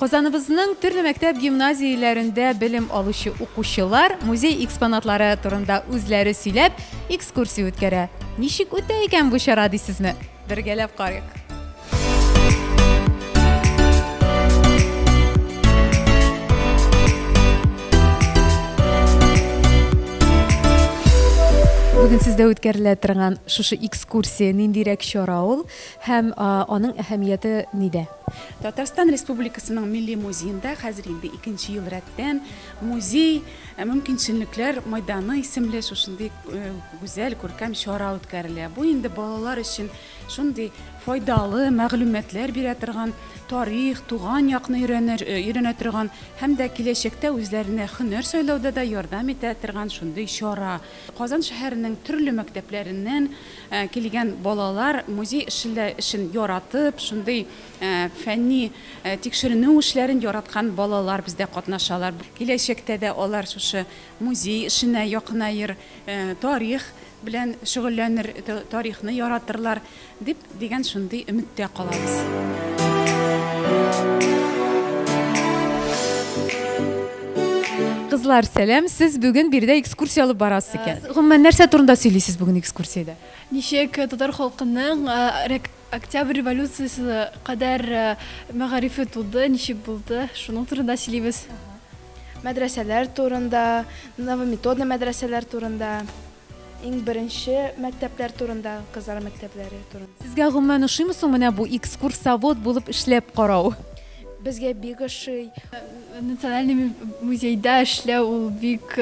Казаныбызның төрле мәктәп-гимназияләрендә белем алучы укучылар музей экспонатлары турында үзләре сөйләп, экскурсия үткәрә. Ничек үтә икән бу чара дисезме? Бергәләп карыйк. Бүген сездә үткәрелә торган шушы экскурсия ниндирәк чара ул һәм аның әһәмияте нидә? Татарстан Республикасының Милли музеенда хәзер инде икенче ел рәттән музей мөмкинчелекләр майданы исемле шушындый гүзәл күркәм чара үткәрелә. Бу инде балалар өчен шундый файдалы мәгълүматлар бирә торган, тарих, туган якны өйрәнер, өйрәнә торган һәм дә киләчәктә үзләренә һөнәр сайлауда да ярдәм итә торган шундый чара. Казан шәһәренең төрле мәктәпләреннән Килгән балалар музей эшчелә эшен яратып, шундый фәнни тикшеренү эшләрен яраткан балалар бездә катнашалар. Киләчәктә дә алар шушы музей эшенә якынаер, тарих белән шөгыльләнер, тарихны яратырлар дип, дигән шундый өметтә калабыз. Кызлар, сәлам. Сез бүген биредә экскурсия алып барасыз икән. Э, гомумән, нәрсә турында сөйлисез бүген экскурсиядә? Ничек э, татар халкының э, октябрь революциясе кадәр мәгарифе туды, ничек булды, шуның турында сөйлибез. Мәдрәсәләр турында, новометодный мәдрәсәләр турында. Иң беренче мәктәпләр турында, кызлар мәктәпләре турында. Сезгә гомумән ошыймы соң менә бу экскурсовод булып эшләп карау? Безгә бик ошый. Национальный музейда эшләү ул бик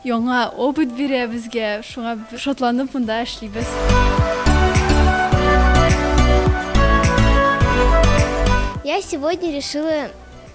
яңа опыт бирә безгә, шуңа шатланып монда эшлибез. Я сегодня решила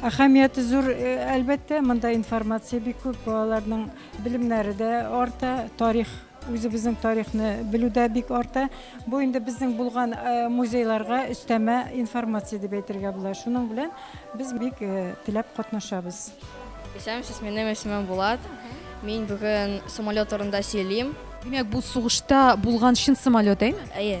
Әһәмияте зур, әлбәттә, монда информация бик күп, балаларның белемнәре дә арта, тарих үзебезнең тарихны белү дә бик арта. Бу инде безнең булган э, музейларга өстәмә информация дип әйтергә була. Шуның белән без бик э, теләп катнашабыз. Исәнмесез, минем исемем Булат. Мин бүген самолет турында сөйлим. Димәк, бу сугышта булган чын самолет, әйме? Әйе.